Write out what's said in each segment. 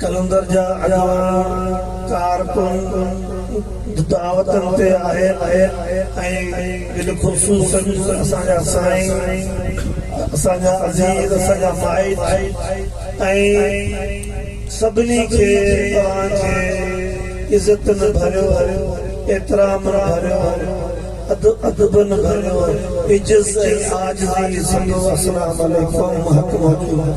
قلندر جا اڳواڻ ڪارڪن دعوتن تي آهن ۽ بالخصوص اسان جا سائين، اسان جا عزيز، اسان جا مائٽ ۽ سڀني کي توهان جي عزتن ڀريو، احترامن ڀريو، ادبن ڀريو عجز ۽ عاجزي سندو السلام عليڪم محڪم حقيقت.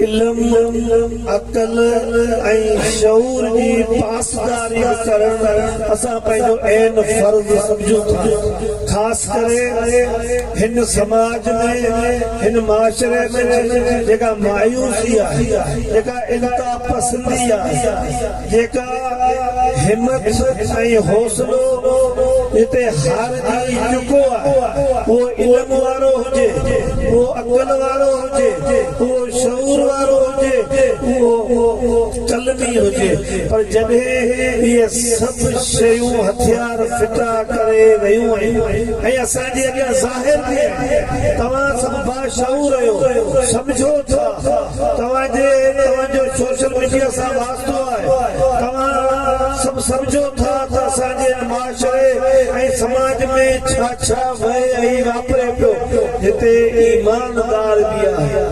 علم، عقل ۽ شعور جي پاسداري به ڪرڻ اسان پنهنجو عين فرض سمجهون ٿا. خاص ڪري هن سماج ۾، هن معاشري ۾ جيڪا مايوسي آهي، جيڪا انتهاپسندي آهي، جيڪا همت ۽ حوصلو جتي هارجي چڪو آهي اهو علم وارو هجي اهو عقل وارو هجي اهو شعور وارو هجي اهو قلمي هجي پر جڏهن اهي سڀ شيون هٿيار ڦٽا ڪري رهيون آهن ۽ اسان جي اڳيان ظاهر به آهن توهان سڀ باشعور اهيو سمجهو ٿا توهان جي توهان جو سوشل ميڊيا سان واسطو آهي توهان سڀ سمجهو ٿا ته اسان جي هن معاشري ۽ سماج ۾ ڇا ڇا وهي ۽ واپري پيو جتي ايمان دار به آهي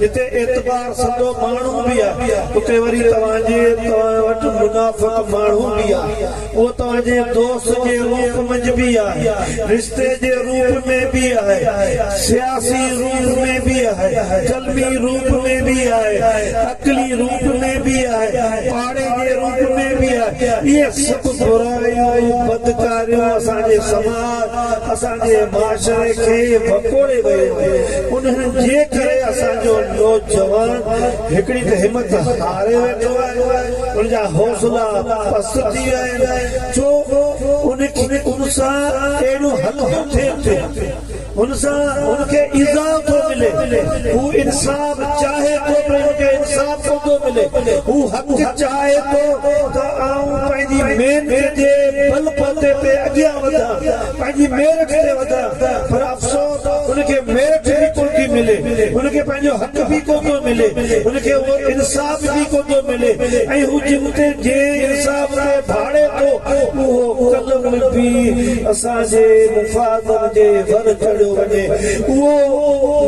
جتي اعتبار سندو ماڻهو به آهي اتي وري توهان جي توهان وٽ منافق ماڻهو به آهي اهو توهانجي دوست جي روپ منجهه به آهي، رشتي جي روپ ۾ به آهي، سياسي روپ ۾ به آهي، قلمي روپ ۾ به آهي، عقلي روپ ۾ به آهي، پاڙي جي روپ ۾ به آهي. اهي سڀ برايون، بدڪاريون اسان جي سماج، اسان جي معاشري کي وڪوڙي ويون آهن. انهن جي ڪري اسان جو نوجوان. هڪڙي ته همت هاري ويٺو آهي، ان جا حوصلا پست ٿي ويا آهن، ڇو ان کي ان سان اهڙيون هلڪيون ٿين ٿيون، ان سان ان کي ايذاء ٿو ملي، هو انصاف چاهي ٿو پر ان کي انصاف ڪوندو ملي، هو حق چاهي ٿو ته آئون پنهنجي محنت جي بلبوتي تي اڳيان وڌان، پنهنجي ميرٺ تي وڌڻ پر افسوس ان کي ميرٺ به ڪو ٿي ملي ان کي پنهنجو حق به ڪو ٿو ملي ان کي اهو انصاف به ڪو ٿو ملي ۽ هو جن تي جنهن انصاف تي ڀاڙي ٿو اهو قلم به اسان جي مفادن جي ور چڙهيو وڃي اهو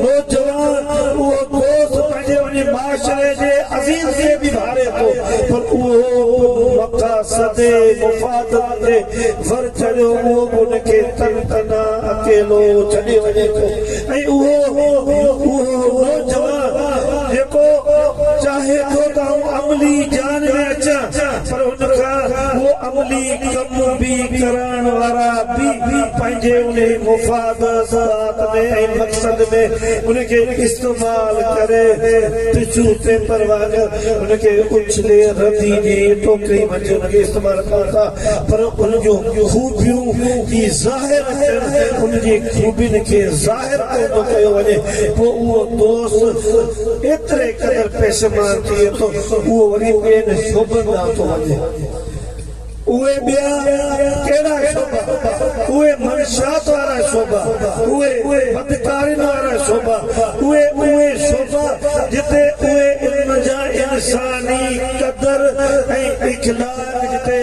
نوجوان اهو دوست پنهنجي ان معاشري جي عزيز تي به ڀاڙي ٿو پر اهو به مقاصد مفادن جي ور چڙهيو اهو به ان کي تن تنها اڪيلو ڇڏي وڃي ٿو ۽ اهو نوجوان جيڪو چاهي ٿو ته آئون عملي جان ۾ اچان پر ان کان اهو عملي ڪم به ڪرائڻ وارا به پنهنجي انهي مفاد ذات ۾ ۽ مقصد ۾ ان کي استعمال ڪري ٽشو پيپر وانگر ان کي اڇلي ردي جي ٽوڪري منجهه ان کي استعمال ڪن ٿا. پر ان جون خوبيون ئي ظاهر اچن، ان جي خوبين کي ظاهر ڪو نه ڪيو وڃي، پوء اهو دوست ايتري قدر پيشيمان ٿئي ٿو، اهو وري ٻين شعبن ڏانهن ٿو وڃي. اهي ٻيا ڪهڙا شعبا؟ اهي منشيات وارا شعبا، اهي بدڪارين وارا شعبا، اهي اهي شعبا جتي اهي ان جا انساني قدر ۽ اخلاق اڄ جتي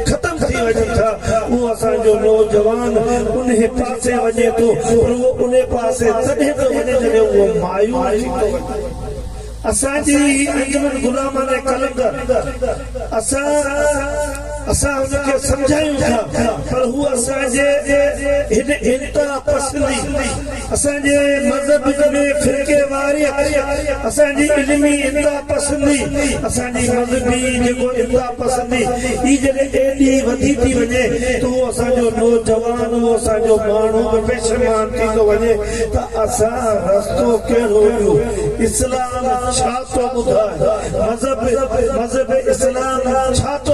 ختم ٿي وڃن ٿا اهو اسان جو نوجوان انهي پاسي وڃي ٿو پر اهو انهي پاسي تڏهن ٿو وڃي جڏهن اهو مايوس ٿي ٿو وڃي اسان جي هي انجمن غلامانه قلندر اسان اسان هن کي سمجهايون ٿا پر هو اسان جي هن انتها پسندي اسان جي مذهب ۾ فرقي واريت، اسان جي علمي انتهاپسندي، اسان جي مذهبي جيڪو انتهاپسندي ئي جڏهن ايڏي وڌي ٿي وڃي ته اهو اسان جو نوجوان، اهو اسان جو ماڻهو به پشيمان ٿي ٿو وڃي ته اسان رستو ڪهڙو ڏيون؟ اسلام ڇا ٿو ٻڌائي؟ مذهب، مذهب اسلام ڇا ٿو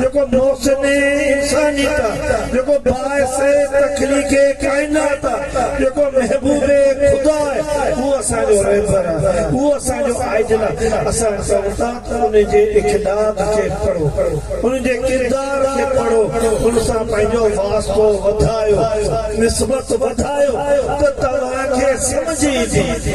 جيڪو محسن انسانيت آ، جيڪو باعث تخليق ڪائنات آ، جيڪو محبوب خدا آ، اهو اسان جو رهبر آ، اهو اسان جو آئيڊل آ، اسان چئون ٿا ته ان جي اقداد کي پڙهو، ان جي ڪردار کي پڙهو، ان سان پنهنجو واسطو وڌايو، نسبت وڌايو ته توهان کي سمجهه ايندي.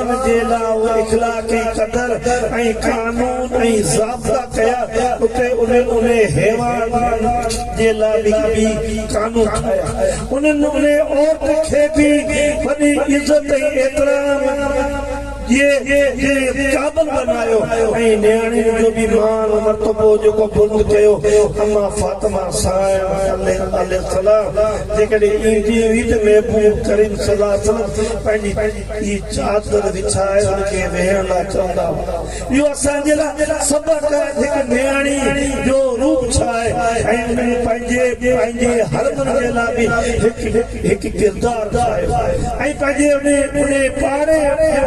ان جي لاء هو اخلاقي قدر ۽ قانون ۽ ضابطا ڪيا اتي انهن انهي حيوان جي لاء به قانون ٺاهيا انهن انهي عورت کي به وڏي عزت ۽ احترام جي قابل بنايو ۽ نياڻين جو به مان مرتبو جيڪو بلند ڪيو اما فاطمه سائڻ عليه السلام جيڪڏهن ايندي هئي ته محبوب ڪريم صلي الله عليه وسلم پنهنجي جي چادر وڇائي ان کي ويهڻ لاء چوندا هئا. اهو اسان جي لاء سبق آهي ته هڪ نياڻي جو روپ ڇا آهي ۽ ان ۾ پنهنجي پنهنجي حرمن جي لاء به هڪ هڪ ڪردار ٺاهيو ۽ پنهنجي ان ان پاڙي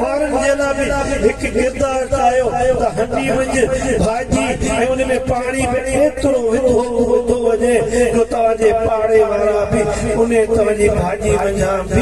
وارن جي لاء به هڪ ڪردار ٺاهيو ته هنڊي منجھ ڀاڄي ۽ ان ۾ پاڻي به ايترو وڌو وڌو وڃي جو توهان جي پاڙي وارا به ان توهان جي ڀاڄي منجهان به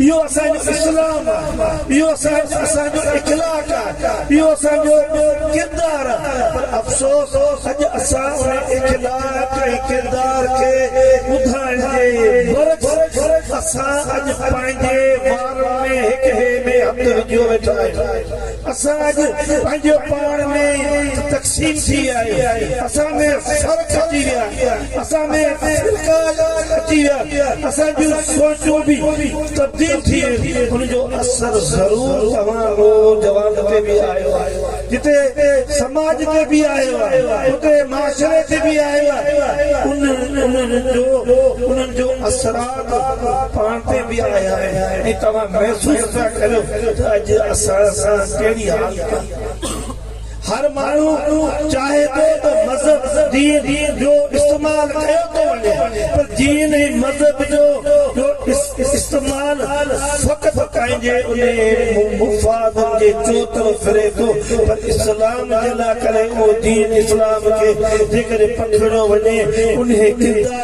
اهو اسان جو اسلام آ، اهو اسان جو اخلاق آ، اهو اسان جو ڪردار آ، پر افسوس اڄ اسان ان اخلاق ۽ ڪردار کي ٻڌائڻ جي برعڪس اسان اڄ پنهنجي وارن ۾ هڪ ٻئي ۾ هٿ وجهيو ويٺا آهيون. اسان اڄ پنهنجو پاڻ ۾ تقسيم ٿي ويا آهيون اسان ۾ فرق اچي ويا آهن اسان ۾ فرقا اچي ويا آهن اسان جون سوچون به تبديل ٿي ويون آهن ان جو اثر ضرور توهان نوجوانن تي به آيو آهي جتي سماج تي به آيو آهي اتي معاشري تي به آيو آهي انهن جو انهن جو اثرات وقت پاڻ تي به آيا آهن ۽ توهان محسوس پيا ڪريو ته اڄ اسان سان ڪهڙي حالت آهي. هر ماڻهو چاهي ٿو ته مذهب، دين، جو استعمال ڪيو ٿو وڃي پر دين ۽ مذهب جو استعمال فقط پنهنجي انهي مفادن جي چوطرف ڦري ٿو پر اسلام جي لاء ڪري اهو دين اسلام کي جيڪڏهن پکڙيو وڃي انهي ڪردار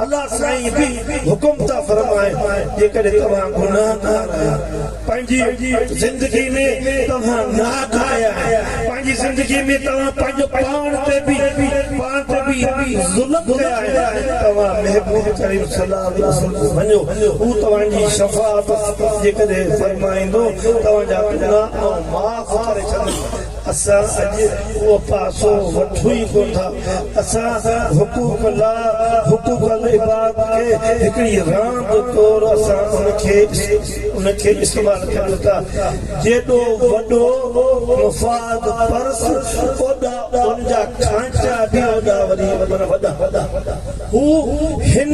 الله سائين به حڪم ٿا فرمائن جيڪڏهن توهان گناهگار آهيو پنهنجي زندگي ۾ توهان ناحق آيا آهيو پنهنجي زندگي ۾ توهان پنهنجو پاڻ تي به پاڻ تي به ظلم ڪيا آهن توهان محبوب ڪريم صلي الله عليه وسلم ڏي وڃو هو توهان جي شفاعت جيڪڏهن فرمائيندو توهان جا گناهه آئون معاف ڪري ڇڏيندس اسان اڄ اهو پاسو وٺون ئي ڪونه ٿا. اسان حقوق الله، حقوق العباد کي هڪڙي راند طور اسان ان کي استعمال ڪريون ٿا. جيڏو وڏو مفاد پرس اوڏا ان جا کانئچا به اوڏا وري وڏا. هو هن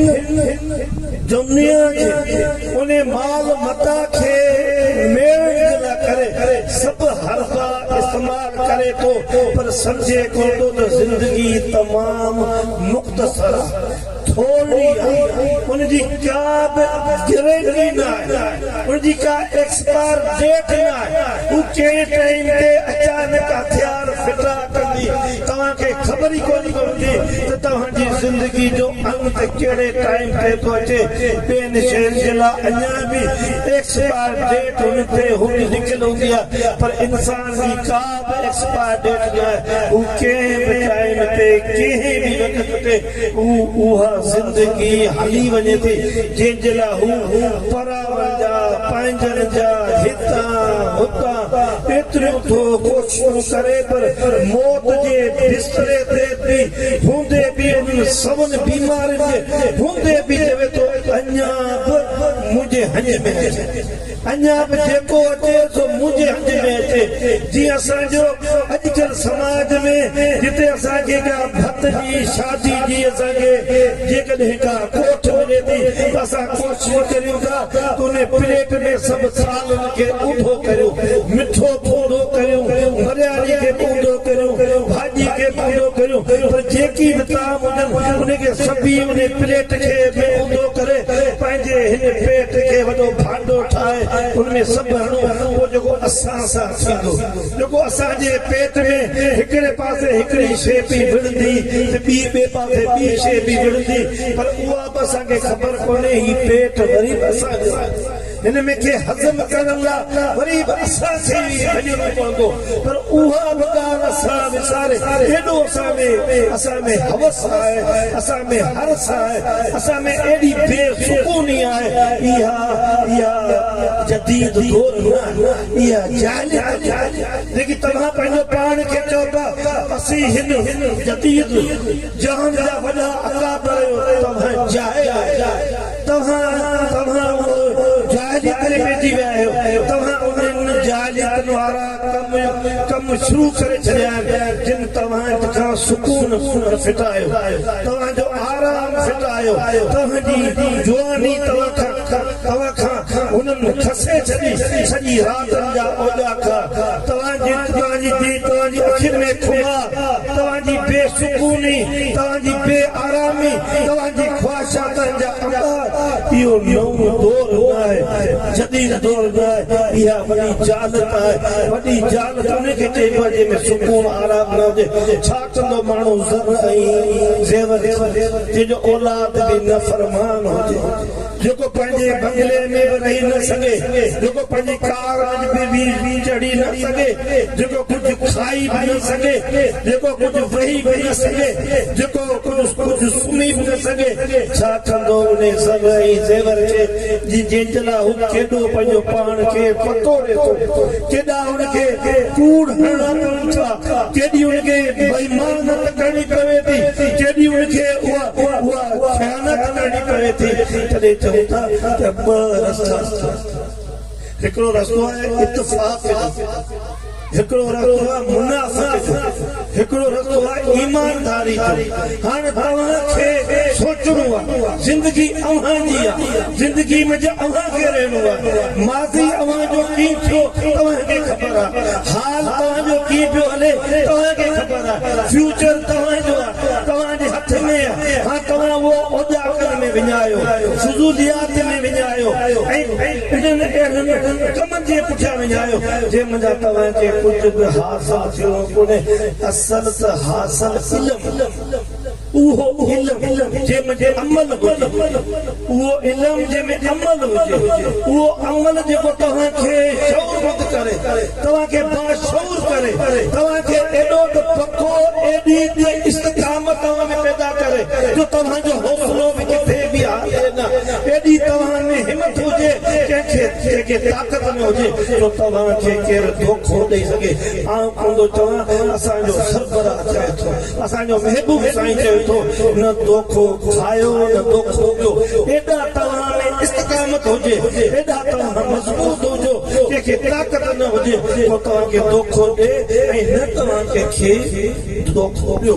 دنيا جي ان مال متاع کي ميڙڻ جي لاء ڪري سڀ حربا استعمال ڪري ٿو پر سمجهي ڪونه ٿو ته زندگي تمام مختصر آهي، ٿورڙي آهي، ان جي ڪا به گرينٽي نه آهي، ان جي ڪا ايڪسپائر ڊيٽ نه آهي، هو ڪنهن ٽائيم تي اچانڪ هٿيار ڦٽا ڪندي، توهان کي خبر ئي ڪونه پوندي ته توهان جي زندگي جو انت ڪهڙي ٽائيم تي ٿو اچي، ٻين شين جي لاء اڃا به ايڪسپائر ڊيٽ هن تي هوندي لکيل هوندي آهي پر انسان جي ڪا به ايڪسپائر ڊيٽ نه آهي، هو ڪنهن به ٽائيم تي ڪنهن به وقت تي هو اها زندگي هلي وڃي ٿي جنهن جي لاء هو پراون جا پنهنجن جا هتان هتان ايتريون ٿو ان ڪري پر موت جي بستري تي به هوندي به انهن سون بيمارين جي هوندي به چوي ٿو اڃا به منهنجي هنج ۾ اچي اڃا به جيڪو اچي سو منهنجي هنج ۾ اچي جيئن اسان جو اڄڪلهه سماج ۾ جتي اسان کي ڪا ڀت جي شادي جي اسان کي جيڪڏهن ڪا ڪوٺ ملي ٿي ته اسان ڪوشش ڪريون ٿا ته انهي پليٽ ۾ سڀ ٿالين کي ٻوڍو ڪريو، مٺو ٻوڍو ڪريو، مريالي کي ٻوڍو ڪريو، ڀاڄي کي ٻوڍو ڪريو، پر جيڪي به طعام هجن، ان کي سڀي انهي پليٽ کي به ٻوڍو ڪري، پنهنجي هن پيٽ کي وڏو ڀانڊو ٺاهي، ان ۾ سڀ هڻو، پوء جيڪو اسان سان ٿيندو، جيڪو اسان جي پيٽ ۾ هڪڙي پاسي هڪڙي شيء پئي وڙهندي ته ٻي ٻئي پاسي ٻي شيء پئي وڙهندي، پر اها به اسان کي خبر ڪونهي، هي پيٽ وري به اسان جو آهي. هن ۾ کي هضم ڪرڻ لا وري به اسان کي ئي وڃڻو پوندو پر اها به ڳالهه اسان وساري ايڏو اسان ۾ اسان ۾ هوس آهي اسان ۾ حرص آهي اسان ۾ ايڏي بي سڪوني آهي اها اها جديد دور نه آهي اها جاهليت جي آهي جيڪي توهان پنهنجو پاڻ کي چئو ٿا اسين هن جديد جهان جا وڏا اڪابر آهيون توهان جاهل آهيو. توهان توهان ان جاء جي ڪري ويٺي ويا آهيو توهان انهن جاء جي تن وارا ڪم ڪم شروع ڪري ڇڏيا آهن جن توهان کان سڪون ڦٽايو توهان جو آرام ڦٽايو توهان جي جواني توهان کان توهان کان هنن کسي ڇڏي سڄي راتن جا اوڄاڪا توهان جي توهان جي جي توهان جي اکين ۾ خمار توهان جي بي سڪوني توهان جي بي آرامي توهان جي خواهش ساڪن جا امار اهو نئون دور ناهي جديد دور ناهي اها وڏي جهالت آهي وڏي جهالت انهي کي چئبو آهي جنهن ۾ سڪون آرام نه هجي ڇا ڪندو ماڻهو زر ۽ زيور جنهن جو اولاد به نه فرمان هجي جيڪو پنهنجي بنگلي ۾ به رهي نه سگهي جيڪو پنهنجي ڪار ۾ به چڙهي نه سگهي جيڪو ڪجهه کائي به نه سگهي جيڪو ڪجهه وهي به نه سگهي جيڪو ڪجهه ڪجهه سمهي به نه سگهي، ڇا ڪندو انهي زر ۽ زيور کي، جنهن جي لاء هو ڪيڏو پنهنجو پاڻ کي وڪوڙي ٿو، ڪيڏا هن کي ڪوڙ هڻڻا پون ٿا، ڪيڏي هن کي بيمانت ڪرڻي پوي ٿي، ڪيڏي هن کي اها خيانت ڪرڻي پوي ٿي، تڏهن چئون ٿا ته ٻه رستا آهن، هڪڙو رستو آهي اتفاق جو. هڪڙو رستو آهي منافقت جو، هڪڙو رستو آهي ايمانداري جو، هاڻي توهان کي سوچڻو آهي زندگي اوهان جي آهي، زندگي ۾ جي اوهان کي رهڻو آهي، ماضي اوهان جو ڪيئن ٿيو توهان کي خبر آهي، حال توهان جو ڪيئن پيو هلي توهان کي خبر آهي، فيوچر توهان جو آهي، توهان جي هٿ ۾ آهي، هاڻي توهان اهو اوڄاڪن ۾ وڃايو، فضوليات ۾ وڃايو ۽ انهن اهڙن ڪمن جي پٺيان وڃايو جنهن منجهان توهان کي ڪجهه به حاصل ٿيو ڪونهي، اصل ته حاصل علم، اهو علم جنهن ۾ عمل هجي، اهو علم جنهن ۾ عمل هجي، اهو عمل جيڪو توهان کي شعورمند ڪري، توهان کي باشعور ڪري، توهان کي ايڏو ته پڪو، ايڏي ته استقامت توهان ۾ پيدا ڪري جو توهان جو حوصلو به ڪٿي بيهاري نه. ايڏي توهان ۾ همٿ هجي، ڪنهن کي جيڪي طاقت ۾ هجي، جو توهان کي ڪير دوکو ڏئي سگهي. آئون ڪوندو چوان، اسان جو سربراهه چوي ٿو، اسان جو محبوب سائين چوي ٿو، نه دوکو کايو، نه دوکو ڏيو. ايڏا توهان ۾ استقامت هجي، ايڏا توهان مضبوط هجو، ڪنهن کي طاقت نه هجي، جو توهان کي دوکو ڏئي ۽ نه توهان ڪنهن کي دوکو ڏيو.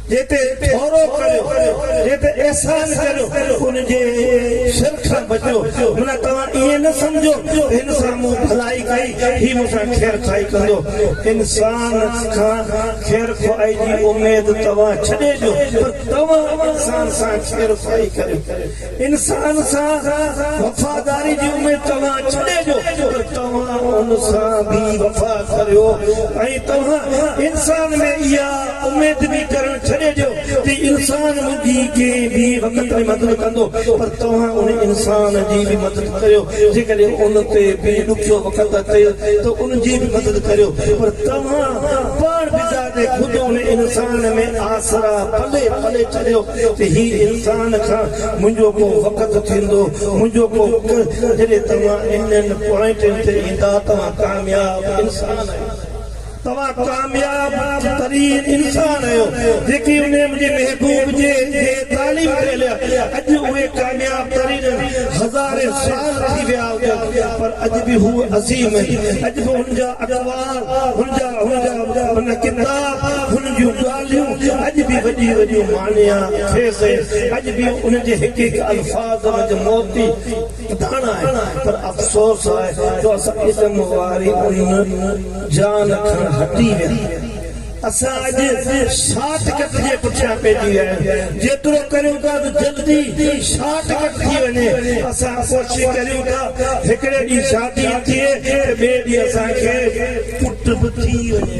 جنهن تي ٿورو ڪريو، جنهن تي احسان ڪريو، ان جي شر کان بچو. معنيٰ توهان ائين نه سمجهو ته هن سان مون ڀلائي ڪئي، هي مون سان خير خواهي ڪندو. انسان کان خير خواهي جي اميد توهان ڇڏي ڏيو، پر توهان انسان سان خير خواهي ڪريو. انسان سان وفاداري جي اميد توهان ڇڏي ڏيو پر توهان ان سان بي وفا ٿريو ۽ توهان انسان ۾ اها اميد به ڪرڻ ڇڏي ڏيو ته انسان منهنجي ڪنهن به وقت ۾ مدد ڪندو پر توهان ان انسان جي به مدد ڪريو جيڪڏهن ان تي به ڏکيو وقت اچي ته ان جي به مدد ڪريو پر توهان پاڻ بذات خود ان انسان ۾ آسرا پلي پلي ڇڏيو ته هي انسان کان منهنجو ڪو وقت ٿيندو منهنجو ڪو وقت جڏهن توهان انهن پوائنٽن تي ايندا توهان ڪامياب انسان آهيو توهان ڪامياب ترين انسان آهيو جيڪي انهي منهنجي محبوب جي جي تعليم تي هليا اڄ اهي ڪامياب ترين آهن هزارين سال ٿي ويا هجن پر اڄ به هو عظيم آهن اڄ به هن جا اقوال هن جا هن جا هن جا ڪتاب هن جون ڳالهيون ڳالهيون اڄ به وڏيون وڏيون مانيا خيز آهن، اڄ به انهن جي هڪ هڪ الفاظ منجهه موتي پڌاڻ آهي، پر افسوس آهي جو اسان علم واري ان جان کان هٽي ويا آهيون. اسان اڄ شارٽ ڪٽ جي پٺيان پئجي ويا آهيون، جيترو ڪريون ٿا ته جلدي شارٽ ڪٽ ٿي وڃي، اسان ڪوشش ڪريون ٿا هڪڙي ڏينهن شادي به ٿئي ته ٻئي ڏينهن اسان کي پٽ به ٿي وڃي.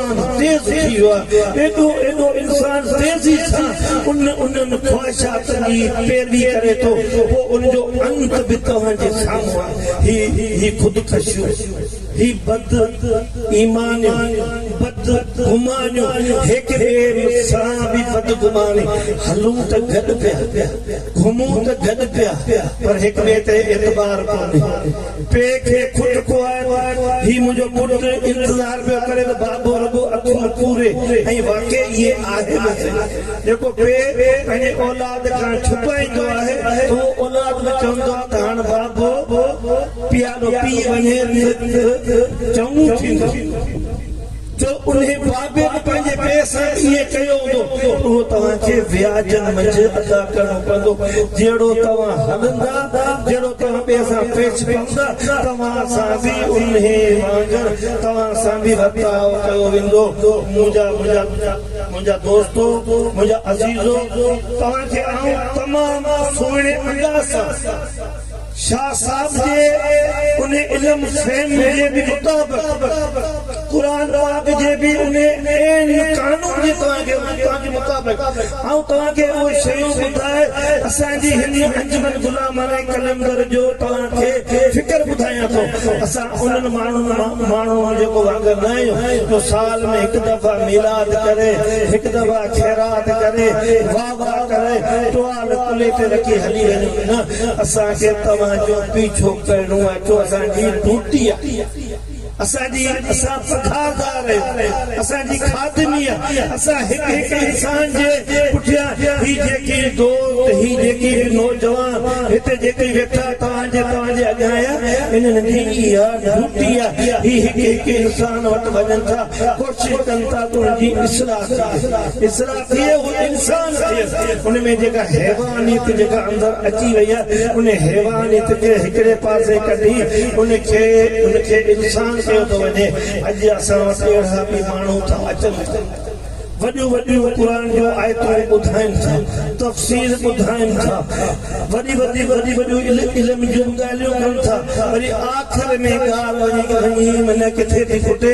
انسان تيز ٿي ويو آهي، ايڏو ايڏو انسان تيزي سان ان انهن خواهشاتن جي پيروي ڪري ٿو، پوء ان جو انت به توهان جي سامهون آهي. هي هي خودڪشيون، هي بد ايمانيون، بد گمانيون، هڪ ٻئي سان به بدگماني، هلون ته گڏ پيا، گهمون ته گڏ پيا، پر هڪ ٻئي تي اعتبار ڪونهي. پيء کي کٽ ڪوهائي ته هي منهنجو پٽ انتظار پيو ڪري ته بابو رڳو اکيون پوري ۽ واقعي اهي آهن آهي جيڪو پيء پنهنجي اولاد کان ڇپائيندو آهي ته اهو اولاد به چوندو آهي ته هاڻ بابو پيالو پي وڃي ته چڱو ٿيندو. جو انهي بابت پنهنجي پيء سان به ائين ڪيو هوندو ته اهو توهان کي وياجن منجهه ادا ڪرڻو پوندو، جهڙو توهان هلندا، جهڙو توهان ٻئي سان پيش پوندا، توهان سان به انهي وانگر توهان سان به ورتاء ڪيو ويندو. منهنجا منهنجا دوستو، منهنجا عزيزو، توهان کي آئون تمام سهڻي انداز سان. شاهه صاحب جي ان علم فهم جي به مطابق قرآن پاڪ جي به ان عين قانون جي توهان کي توهان جي مطابق آئون توهان کي اهي شيون ٻڌائي اسان جي هن انجمن غلامانه قلندر جو توهان کي فڪر ٻڌايان ٿو اسان انهن ماڻهن مان ماڻهن مان جيڪو واگر نه آهيون جو سال ۾ هڪ دفعه ميلاد ڪري هڪ دفعه خيرات ڪري توبه ڪري ٽوال ڪلهي تي رکي هلي وڃو نه اسان کي توهان جو پيڇو ڪرڻو آهي ڇو اسان جي هي ڊوٽي آهي اسان جي اسان پگهاردار آهيون اسان جي خادمي آهي اسان هڪ هڪ انسان جي پٺيان هي جيڪي دوست هي جيڪي به نوجوان هتي جيڪي ويٺا توهان جي توهان جي اڳيان آيا انهن جي اها ڊوٽي آهي هي هڪ هڪ انسان وٽ وڃن ٿا ڪوشش ڪن ٿا ته ان جي اصلاح ٿئي اصلاح اهي اهو انسان ٿيس ان ۾ جيڪا حيوانيت جيڪا اندر اچي وئي آهي ان حيوانيت کي هڪڙي پاسي ڪڍي ان کي ان کي انسان ڪيو ٿو وڃي اڄ اسان وٽ اهڙا به ماڻهو ٿا اچن ٿا وڏيون وڏيون قرآن جون آيتون ٻڌائين ٿا تفسير ٻڌائين ٿا وڏي وڏي وڏي وڏيون علم جون ڳالهيون ڪن ٿا وري آخر ۾ ڳالهه وڃي وڃي معنيٰ ڪٿي ٿي کٽي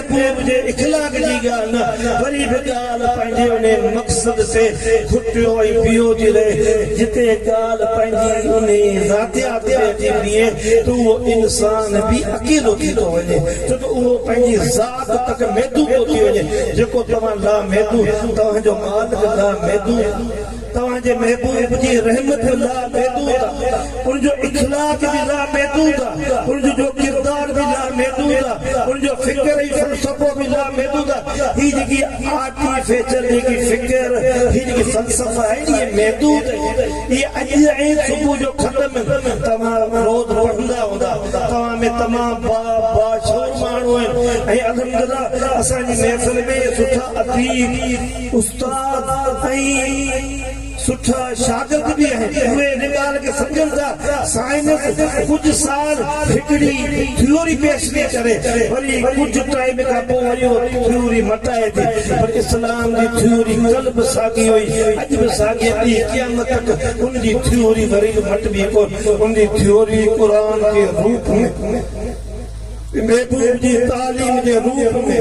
محبوب جي اخلاق جي ڳالهه نه وري به ڳالهه پنهنجي انهي مقصد تي کٽيو ۽ بيهو ٿي رهي جتي ڳالهه پنهنجي انهي ذاتيات تي اچي بيهي ته اهو انسان به اڪيلو ٿي ٿو وڃي ڇو ته اهو پنهنجي ذات تڪ محدود ٿو ٿي وڃي جيڪو توهان لامحدود توهان جو مالڪ لامحدود توهان جي محبوب جي رحمت به لامحدود آ، ان جو اخلاق به لامحدود آ، ان جو جو ڪردار به لامحدود آ، ان جو فڪر ۽ فلسفو به لامحدود آ. هي جيڪي آرٽيفيچل جيڪي فڪر، هي جيڪي فلسفا آهن، اهي محدود آهن. اهي اڄ ۽ صبح جو خط م توهان روز پڙهندا هوندا. توهان ۾ تمام با باشعور ماڻهو آهن ۽ الحمدلله اسان جي محفل ۾ سٺا اديب، استاد ۽ سٺا شاگرد به آهن اهي ان ڳالهه کي سمجهن ٿا سائنس ڪجهه سال هڪڙي ٿيوري پيش ٿي ڪري وري ڪجهه ٽائيم کان پوء وري اها ٿيوري مٽائي ٿي پر اسلام جي ٿيوري ڪلهه به ساڳي هئي اڄ به ساڳي آهي قيامت تڪ ان جي ٿيوري وري به مٽبي ڪونه ان جي ٿيوري قرآن جي روپ ۾ محبوب جي تعليم جي روپ ۾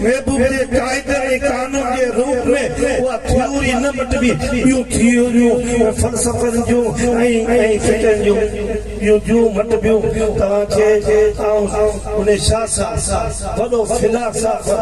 محبوب جي قاعدن ۽ قانون جي روپ ۾ اها ٿيوري نه مٽبي ٻيون ٿيوريون فلسفن جون ۽ فقهن جون ٻيون جون مٽبيون توهان کي آئون ان شاهه صاحب وڏو فلاسافر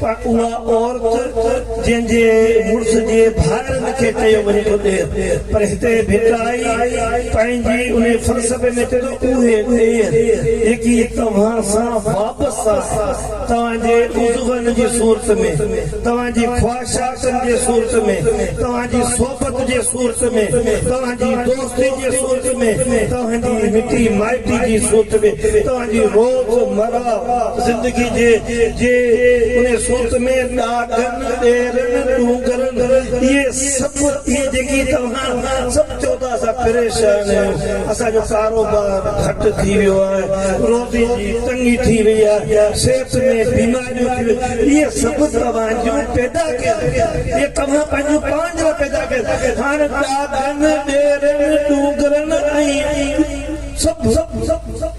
پر اها عورت جنهن جي مڙس جي ڀائرن کي چيو وڃي ٿو ڏير پر هتي ڀٽائي پنهنجي ان فلسفي ۾ چئي ٿو اهي ڏير جيڪي توهان سان وابسته آهن توهان جي عضون جي صورت ۾ توهان جي خواهشاتن جي صورت ۾ توهان جي صحبت جي صورت ۾ توهان جي دوستي جي صورت ۾ توهان جي مٽي مائٽي جي صورت ۾ توهان جي روز مره زندگي جي جي ان سوچ ۾ ڏاڍن ڏيرن ڏونگرن اهي سڀ اهي جيڪي توهان سڀ چئو ٿا اسان پريشان آهيون اسان جو ڪاروبار گهٽ ٿي ويو آهي روزي جي تنگي ٿي وئي آهي صحت ۾ بيماريون ٿي ويون اهي سڀ توهان جون پيدا ڪيل اهي توهان پنهنجو پاڻ جا پيدا ڪيل هاڻ ڏاڍن ڏيرن ڏونگرن ۽ سڀ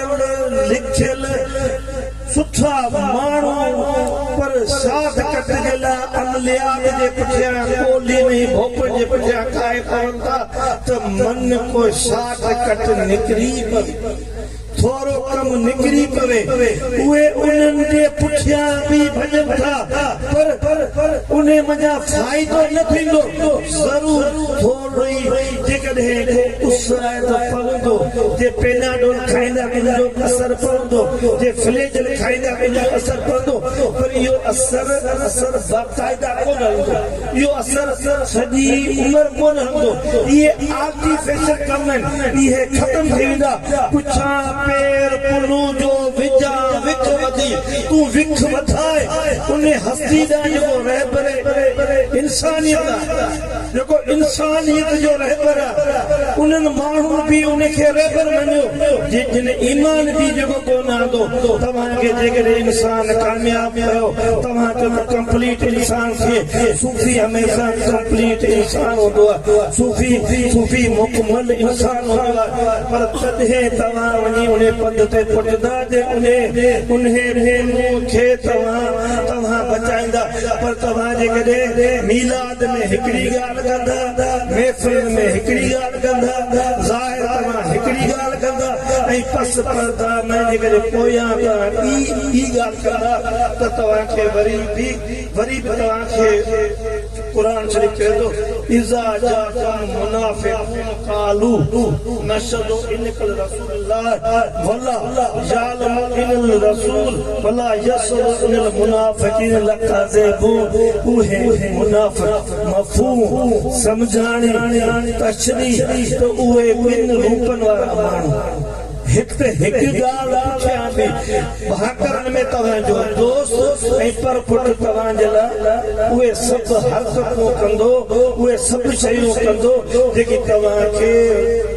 پڙهيل لکيل سٺا ماڻهو پر صادقت جي لاء عمليات جي پٺيان ڳولي ۾ ئي ڀوپن جي پٺيان کائي پون ٿا ته من ڪو صادقت نڪري پوي ٿورو ڪم نڪري پوي اهي انهن جي پٺيان به ڀڄن ٿا پر انهي منجهان فائدو نه ٿيندو ضرور ٿورو هئي، جيڪڏهن ڪو اس آهي ته پوندو، جي پيناڊول کائيندا ته ان جو اثر پوندو، جي فليجل کائيندا ته ان جو اثر پوندو، پر اهو اثر اثر باقاعده ڪونه هلندو، اهو اثر سڄي عمر ڪونه هلندو، اهي آرٽيفيشل ڪم آهن، اهي ختم ٿي ويندا، پڇان پير پنهون جو وجهان وک وڌي، تون وک وڌاء انهي هستي ڏانهن جيڪو رهبر انسانيت آهي. جيڪو انسانيت جو رهبر آ، انهن ماڻهن به ان کي رهبر مڃيو، جن ايمان به جيڪو ڪونه آندو، توهان کي جيڪڏهن انسان ڪامياب ڪيو، توهان چئو ته ڪمپليٽ انسان کي صوفي هميشه ڪمپليٽ انسان هوندو آ، صوفي صوفي مڪمل انسان هوندو آ، پر تڏهن توهان وڃي انهي پنڌ تي پٽندا جي انهي انهي مونهن کي توهان توهان بچائيندا، پر توهان جيڪڏهن ميلاد. اولاد ۾ هڪڙي ڳالهه ڪندا، محفلن ۾ هڪڙي ڳالهه ڪندا، ظاهر ته مان هڪڙي ڳالهه ڪندا ۽ پس پرده ۾ جيڪڏهن پويان توهان ٻي ٻي ڳالهه ڪندا ته توهان کي وري به وري به توهان کي قرآن شريف چوي ٿو اذا جاءكم المنافقون قالو نشهد انڪ لرسول الله ولا يعلم الا الرسول ولا يسر الا المنافقين لکاذيبون اهي منافق مفهوم سمجهاڻي تشريح ته اهي ٻن روپن وارا ماڻهو هڪ ته هڪ ڳالهه پٺيان به ڀاڪرن ۾ توهان جو دوست ۽ پر پٽ توهان جي لاء اهي سڀ حرڪتون ڪندو اهي سڀ شيون ڪندو جيڪي توهان کي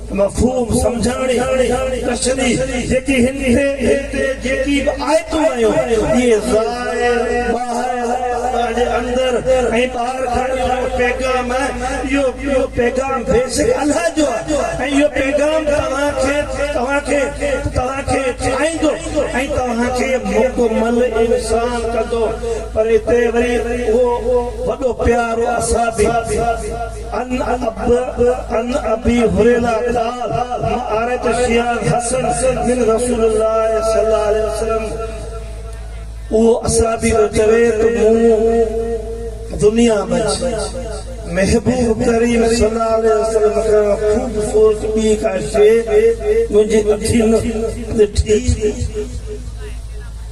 مفهوم سمجهاڻي ڪشندي جيڪي هن تي جيڪي به آيتون آيون اهي ظاهر ٻاهر الله جي اندر ۽ ٻاهر کڻي اهو پيغام اهو اهو پيغام بيشڪ الله جو آهي ۽ اهو پيغام توهان کي توهان کي توهان کي ٺاهيندو ۽ توهان کي مڪمل انسان ڪندو پر اتي وري اهو وڏو پيارو اصحابي عن اب عن ابي هريره قال ما اريت شيئن حسن من رسول الله صلي الله عليه وسلم اهو اصحابي ٿو چوي ته مون دنيا منجھ محبوب ڪريم صلي الله عليه وسلم کان خوبصورت ٻي ڪا شيء منهنجي اکين ڏٺي ئي نه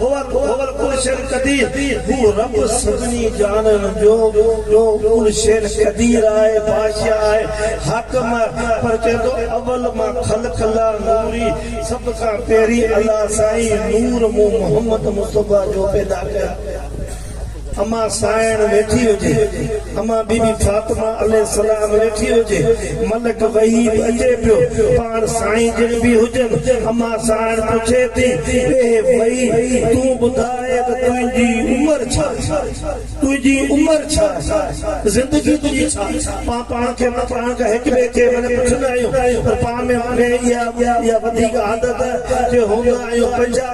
هو هو هو ڪل شين قدير هو رب سڀني جانڻ جو جو ڪل شين قدير آهي بادشاهه آهي حاڪم آهي پر چوي ٿو اول مان خلق الله نوري سڀ کان پهرين الله سائين نور مون محمد مصطفيٰ جو پيدا ڪيو امان سائڻ ويٺي هجي، امان بي بي فاطمه عليه السلام ويٺي هجي، ملڪ وحيد اچي پيو، پاڻ سائين جن به هجن، امان سائڻ پڇي ٿي، اي وحيد! تون ٻڌاء ته تنهنجي عمر ڇا آهي؟ تنهنجي عمر ڇا آهي؟ زندگي تنهنجي ڇا آهي؟ پان پاڻ کي مان پاڻ کان هڪ ٻئي کي معني پڇندا آهيون پر پاڻ ۾ اها وڌيڪ عادت آهي جو هوندا آهيون پنجاهه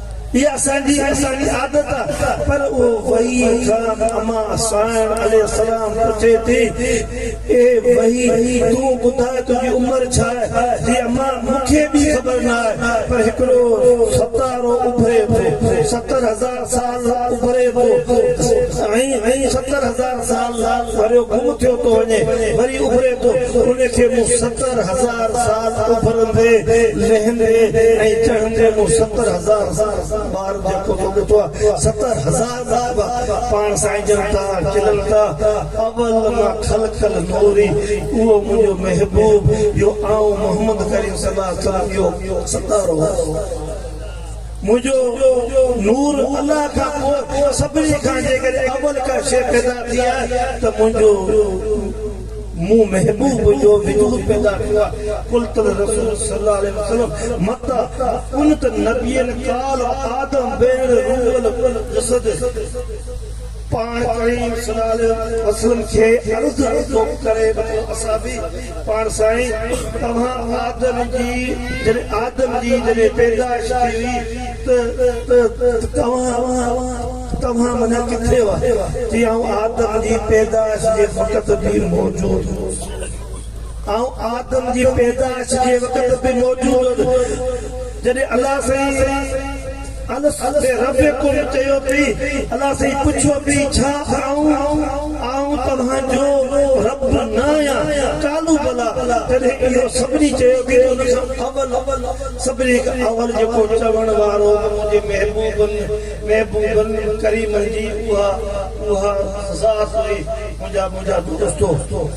اها اسان جي اسان جي عادت آهي پر اهو وحي کان امان سائڻ عليه السلام پڇي ٿي اي وحي تون ٻڌاء تنهنجي عمر ڇا آهي جي امان مون کي به خبر نه آهي پر هڪڙو ستارو اڀري ٿو ستر هزار سال اڀري ٿو ۽ ستر هزار سال وريو گم ٿيو ٿو وڃي وري اڀري ٿو ان کي مون ستر هزار سال اڀرندي لهندي ۽ چڙهندي مون ستر هزار بار جهڪو ٿو ڏٺو آهي ستر هزار مرتبا پاڻ سائنجن ٿا کلن ٿا اول ما خلق النوري اهو منهنجو محبوب جو آئون محمد ڪريم صلي الله عليه وسلم جو ستارو آهيان. منهنجو نور الله کان پوء سڀني کان جيڪڏهن اول ڪا شيء پيدا ٿي آهي ته منهنجو مون محبوب جو وجود پيدا ٿيو آهي قلت الرسول صلي الله عليه وسلم متى ڪنت نبيا قال آدم بين الروح والجسد پاڻ ڪريم صلي الله عليه وسلم کي عرض ٿو ڪري وٺو اصحابي پاڻ سائين توهان آدم جي جڏهن آدم جي جڏهن پيدائش ٿي هئي ته ته توهان توهان منجهان ڪٿي هئا چي آئون آدم جي پيدائش جي وقت به موجود هوس آئون آدم جي پيدائش جي وقت به موجود هوس جڏهن الله سائين الس بي رب ڪن چيو پي، الله سائين پڇيو پي ڇا آئون آئون توهان جو رب نه آهيان؟ قالوا بلٰي جڏهن اهو سڀني چيو پي ته ان کان اول سڀني کان اول جيڪو چوڻ وارو منهنجي محبوبن محبوبن ڪريمن جي اها اها ذات هئي منهنجا منهنجا دوستو!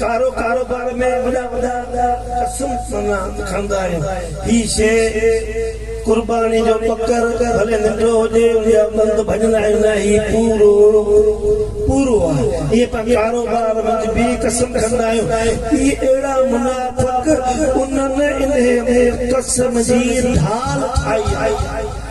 ڪارو ڪاروبار ۾ وڏا وڏا قسم معنيٰ کائندا آهيون هي شيء قرباني جو ٻڪر ڀلي ننڍڙو هجي ان جا ٻنڌ ڀڃندا آهيون نه هي پورو پورو آهي ائين پاڻ ڪاروبار منجهه به قسم کندا آهيون هي اهڙا منافق انهن انهيء ۾ قسم جي ڍال ٺاهي آهي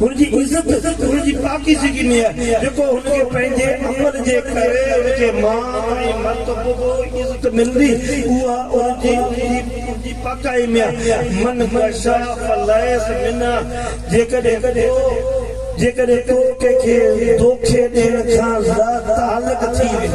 هن جي عزت هن جي پاڪيزگي ۾ آهي، جيڪو هن کي پنهنجي عمل جي ڪري ان کي مان ۽ مرتبو ۽ عزت ملندي، اها ان جي ان جي پاڪائي ۾ آهي. من غشا فليس منا، جيڪڏهن تو جيڪڏهن تو ڪنهن کي دوکي ڏيڻ کان لاتعلق ٿي وئين.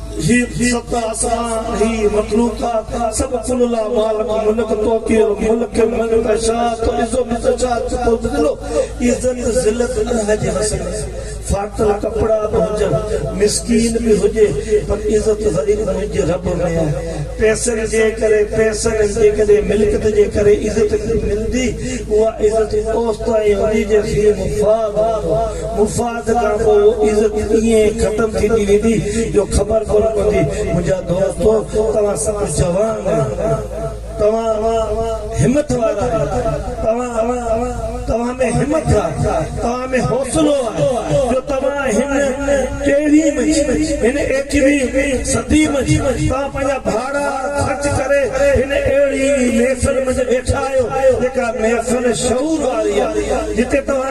هي ست آسمان، هي مخلوقات، سڀ ڪل لا مالڪ ملڪ تعطي الملڪ من تشاء تعز من تشاء تذل عزت ذلت الله جي هٿ ۾ ڦاٽل ڪپڙا به هجن مسڪين به هجي پر عزت وري به منهنجي رب ۾ آهي پئسن جي ڪري پئسن جيڪڏهن ملڪيت جي ڪري عزت ملندي اها عزت اوستائين هوندي جيستائين مفاد هوندو مفاد وقت کان پوء اهو عزت ائين ختم ٿيندي ويندي جو خبر ڪونه پوندي منهنجا دوستو توهان سڀ جوان آهيو توهان همٿ وارا آهيو توهان توهان ۾ همٿ آهي توهان ۾ حوصلو آهي جو توهان هن ڪيڙهي منجهه هن ايڪويهه صدي منجهه توهان پنهنجا ڀاڙا خرچ ڪري هن اهڙي محفل منجهه ويٺا آهيو جيڪا محفل شعور واري آهي جتي توهان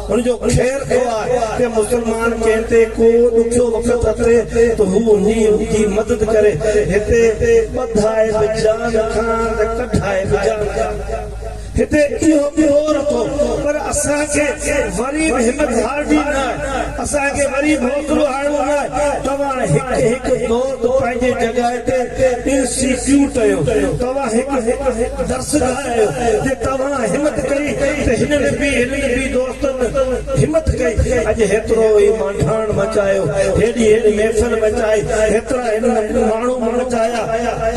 ان جو خير ٿو آهي ته مسلمان ڪنهن تي ڪو ڏکيو وقت اچي ته هو ان جي مدد ڪري. هتي ٻڌائي به جان کان ته ڪڍائي به جان کان. هتي اهو به هو رٿو پر اسان کي وري به همت هارڻي نه آهي. اسان کي وري به حوصلو هارڻو نه آهي. توهان هڪ هڪ دوست پنهنجي جڳهه تي انسٽيٽيوٽ جو توهان هڪ درسگاهه جو. آهيو جي توهان همت ڪئي ته هنن به هنن به دوستن همت ڪئي اڄ هيترو هي مانڊاڻ مچايو هيڏي هن محفل مچائي هيترا هنن ماڻهو مچايا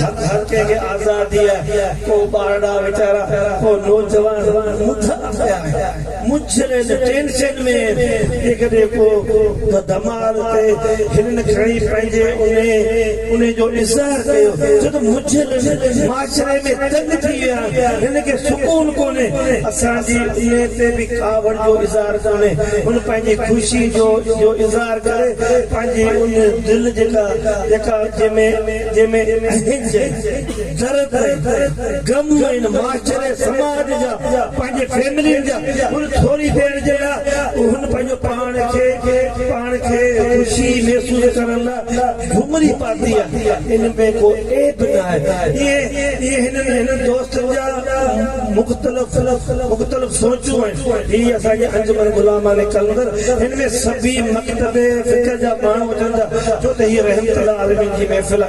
حق هر ڪنهن کي آزادي آهي ڪو ٻارڙا ويچارا ڪو نوجوان مدعا ڪيا آهن. منجهيل هن ٽينشن ۾ جيڪڏهن ڪو ته دمار تي هنن کڻي پنهنجي انهي جو اظهار ڪيو ڇو ته منجهيل هن معاشري ۾ تنگ ٿي ويا آهن هن کي سڪون ڪونهي اسان جي انهي تي به کاهوڙ جو اظهار ڪونهي هن پنهنجي خوشي جو جو اظهار ڪري پنهنجي ان دل جيڪا جيڪا جنهن ۾ جنهن ۾ اهنج درد ۽ گموين معاشري سماج جا پنهنجي فيملين جا هن ٿوري دير جي لاء هن پنهنجو پاڻ کي پاڻ کي خوشي محسوس ڪرڻ لاء گهمري پاتي آهي ان ۾ ڪو عيب ناهي ائين ائين هنن هنن دوستن جا مختلف مختلف سوچون آهن هي اسان جي انجمن غلامان قلندر هن ۾ سڀئي مڪتب فڪر جا ماڻهو اچن ٿا ڇو ته هي رحمت الله عالمين جي محفل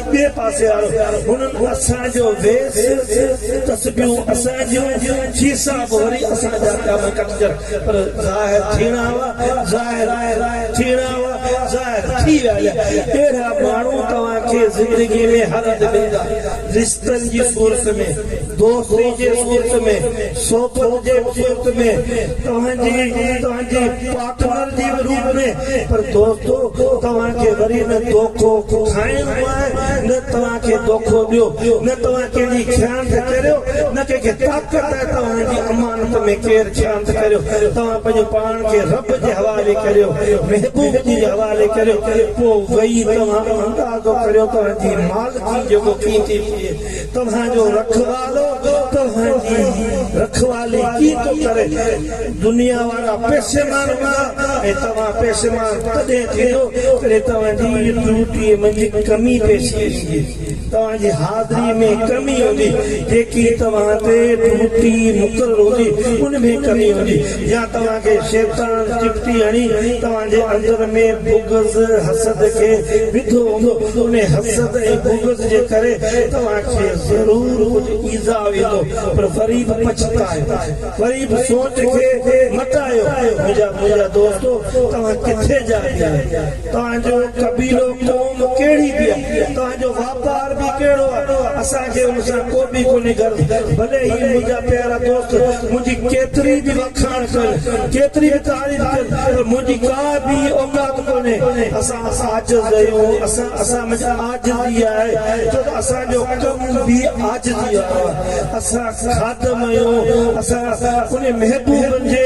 ٻئي پاسي وارو هنن اسان جو ويس، تسبيحون اسان جون، کيسا به وري اسان جا پيا ۾ ڪٽجن، پر ظاهر ٿيڻا هئا، ظاهر ٿيڻا هئا، ظاهر ٿي ويا آهن. اهڙا ماڻهو توهان کي زندگي ۾ هر هنڌ ملندا، رشتن جي صورت ۾، دوستي جي صورت ۾، صحبت جي صورت ۾، توهان جي توهان جي. پارٽنر جي روپ ۾ پر دوستو توهان کي وري نه دوکو کائڻو آهي نه توهان کي دوکو ڏيو نه توهان ڪنهن جي خيانت ڪريو نه ڪنهن کي طاقت آهي توهان جي امانت ۾ ڪير خيانت ڪريو توهان پنهنجو پاڻ کي رب جي حوالي ڪريو محبوب جي حوالي ڪريو پوء وئي توهان اندازو ڪريو توهان جي مالڪي جيڪو قيمتي ٿئي توهان جو رکوالو توهان جي رکوالي ڪي ٿو ڪري؟ دنيا وارا پيسيمان هوندا ۽ توهان پيسيمان تڏهن ٿيندو جڏهن توهان جي ڊيوٽي منجهه ڪمي پيش ايندي، توهان جي حاضري ۾ ڪمي هوندي، جيڪي توهان تي ڊيوٽي مقرر هوندي ان ۾ ڪمي هوندي. يا توهان کي شيطان چپٽي هڻي توهان جي اندر ۾ بغض، حسد، کي وڌو هوندو، انهي حسد ۽ بغض جي ڪري توهان کي ضرور ڪجهه ايذاء ويندو، پر وري به پڇتايو، وري به سوچ کي مٽايو، منهنجا منهنجا دوستو توهان ڪٿي جا به آهيو، توهان جو قبيلو قوم ڪهڙي به آهي، توهان جو ٻار به ڪهڙو آ اسان کي ان سان ڪو به ڪونهي غرض ڀلي هي منهنجا پيارا دوست منهنجي ڪيتري به وکاڻ ڪن ڪيتري به تعريف ڪن پر منهنجي ڪا به اوقات ڪونهي اسان عاجز اهيون اسان اسان منجھ عاجزي آهي ڇو ته اسان جو ڪم به عاجزي وارو آ اسان خادم اهيون اسان ان محبوبن جي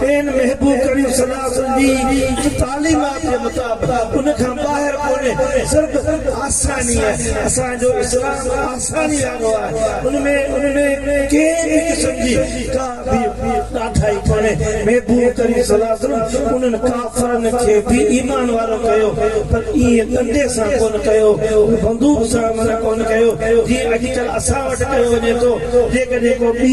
پين محبوب ڪريم صلي الله عليه وسلم جي تعليمات جي مطابق ان کان ٻاهر ڪونهي صرف آساني آهي اسان جو اسلام آساني وارو آهي ان ۾ ان ۾ ڪنهن به قسم جي ڪا به ڏاڍائي ڪونهي محبوب ڪريم صلي الله عليه وسلم انهن ڪافرن کي به ايمان وارو ڪيو پر ايئن ڏنڊي سان ڪونه ڪيو بندوق سان منع ڪونه ڪيو جيئن اڄڪلهه اسان وٽ ڪيو وڃي ٿو جيڪڏهن ڪو ٻي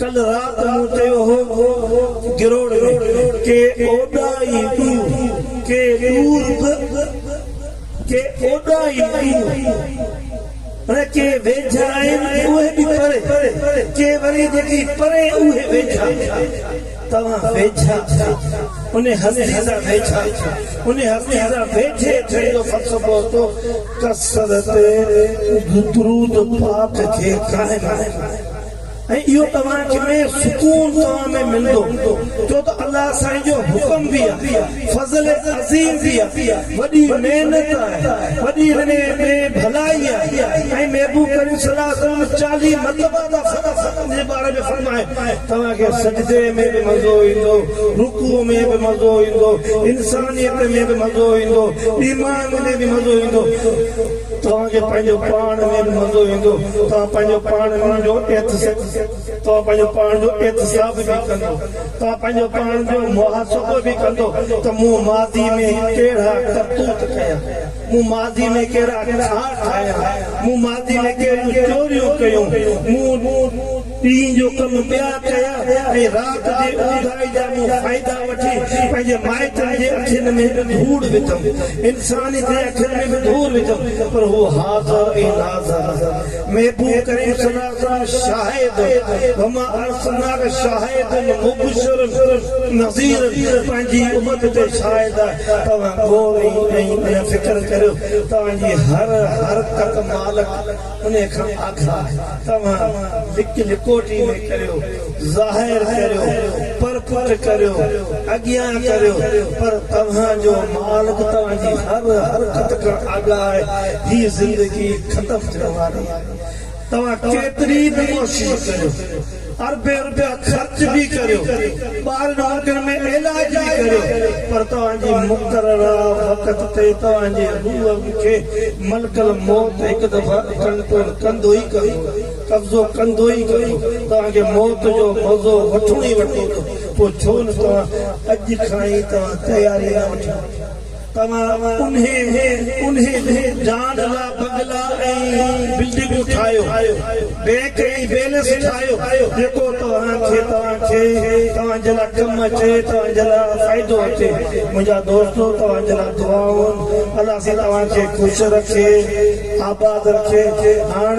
ڪلهه رات مون چيو هو گروڙ ۾ ڪي اوڏائي ڏور ڪي ڏور به ڪي اوڏائي ڏور پر ڪي ويجها آهن اهي به پري ڪي وري جيڪي پري اهي ويجها توهان ويجها آهيو ان هستي سان ويجها ان هستي سان ويجهي اچڻ جو فلسفو اچو ڪثرت درود پاڪ کي قائم رکو. ۽ اهو توهان کي ۾ سڪون توهان ۾ ملندو ڇو ته الله سائين جو حڪم به آهي فضل عظيم به آهي وڏي محنت آهي وڏي هن ۾ ڀلائي آهي ۽ محبوب ڪريم صلي الله عليه وسلم چاليهه مرتبه ٿا فرمائن جي باري ۾ فرمائن توهان کي سجدي ۾ به مزو ايندو رڪوع ۾ به مزو ايندو انسانيت ۾ به مزو ايندو ايمان ۾ به مزو ايندو توهان کي پنهنجو پاڻ ننڊ مزو ايندو، توهان پنهنجو پاڻ ننڊ جو توهان پنهنجو پاڻ جو احتساب به ڪندو، توهان پنهنجو پاڻ جو محاسبو به ڪندو ته مون ماضي ۾ ڪهڙا ڪرتوت ڪيا، مون ماضي ۾ ڪهڙا کاء کايا، مون ماضي ۾ ڪهڙيون چوريون ڪيون، مون ڏينهن جو ڪم ٻيا ڪيا ۽ رات جي اونداهي جا مون فائدا وٺي پنهنجي مائٽن جي اکين ۾ ڌوڙ وڌم، انساني جي اکين ۾ به ڌوڙ وڌم پر هو حاضر ۽ ناظر نظر محبوب ڪريم صلّي الله عليه وسلّم شاهد وما ارسلناڪ شاهدا مبشرا نذيرا پنهنجي امت تي شاهد آهي توهان غور ۽ فڪر ڪريو توهان جي هر حرڪت مالڪ انهيء کان آگھا توهان لڪ لڪوٽي ۾ ڪريو، ظاهر ڪريو، پر پٽ ڪريو، اڳيان ڪريو، پر توهان جو مالڪ توهان جي هر حرڪت کان آگاهه آهي. هي زندگي ختم ٿيڻ واري آهي. توهان ڪيتري به ڪوشش ڪريو. اربين روپيا خرچ به ڪريو، ٻاهرين ملڪن ۾ علاج به ڪريو، پر توهان جي مقرره وقت تي توهان جي روح کي ملڪ الموت هڪ دفعي ڪنٽرول ڪندو ئي ڪندو، قبضو ڪندو ئي ڪندو. توهان کي موت جو مزو وٺڻو ئي وٺڻو هوندو، پوء ڇو نه توهان اڄ کان ئي توهان تياري نه وٺيو. توهان انهي انهي جان لا بنگلا ۽ بلڊنگون ٺاهيو، بينڪ ۽ بيلنس ٺاهيو جيڪو توهان کي توهان کي توهان جي لا ڪم اچي توهان جي لا فائدو اچي منهنجا دوستو توهان جي لا دعائون الله سائين توهان کي خوش رکي آباد رکي هاڻ